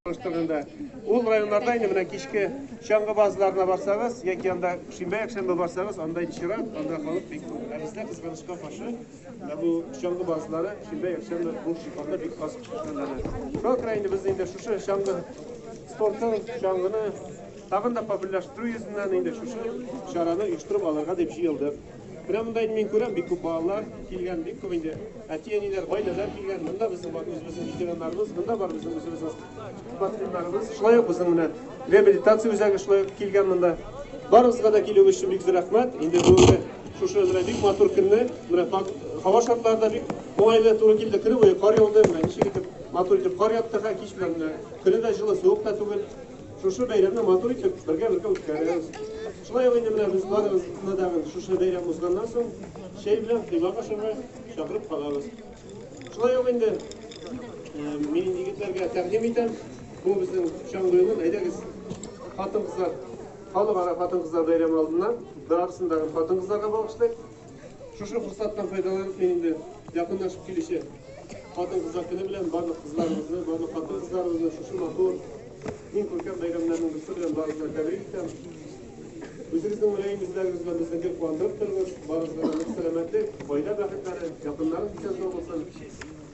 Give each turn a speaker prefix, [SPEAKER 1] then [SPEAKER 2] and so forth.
[SPEAKER 1] Төбендә. Ул районнарда инде менә кичке чаңгы базларына барсагыз, яки анда шимбә якшәмбе барсагыз, анда инде чират, анда халык бик күп. Ә бездә кызганычка каршы, ә бу чаңгы базлары шимбә якшәмбе бу шикарда бик аз эшләнә. Шуңа күрә инде без инде шушы чаңгы спортын, чаңгыны тагын да популярлаштыру йөзеннән инде шушы чараны оештырып алырга дип җыелдык. Менә монда инде мин күрәм, бик күп балалар килгән, бик күп инде әти-әниләр, гаиләләр килгән. Монда безнең бар үзебезнең ветераннарыбыз, монда бар безнең үзебезнең спортсменнарыбыз. Шулай ук безнең менә реабилитация үзәге шулай ук килгән монда. Барыгызга да килүегез өчен бик зур рәхмәт. Инде бүгенге шушы менә бик матур көнне, менә һава шартлары да бик уңайлы туры килде. Көне буе кар яуды, менә ничек итеп матур итеп кар япты һәм кич белән менә көне дә җылы, суык та түгел. Шушы бәйрәмне матур итеп, бергә-бергә үткәрәбез. Шулай ук инде менә без барыгызны да шушы бәйрәм узганнан соң чәй белән коймак ашарга чакырып калабыз. Шулай ук инде мин егетләргә тәкъдим итәм, бу безнең Чаңгы юлы, әйдәгез, хатын-кызлар, халыкара хатын-кызлар бәйрәме алдыннан барысын да хатын-кызларга багышлыйк. Шушы форсаттан файдаланып мин инде якынлашып килүче хатын-кызлар көне белән барлык кызларыбызны, барлык хатын-кызларыбызны шушы матур иң күркәм бәйрәмнәрнең берсе белән барыгызны тәбрик итәм. Үзегезнең мөлаем йөзләрегез белән безне гел куандырып торыгыз. Барыгызга да нык сәламәтлек, гаилә бәхетләре, якыннарыгыз исән-сау булсын.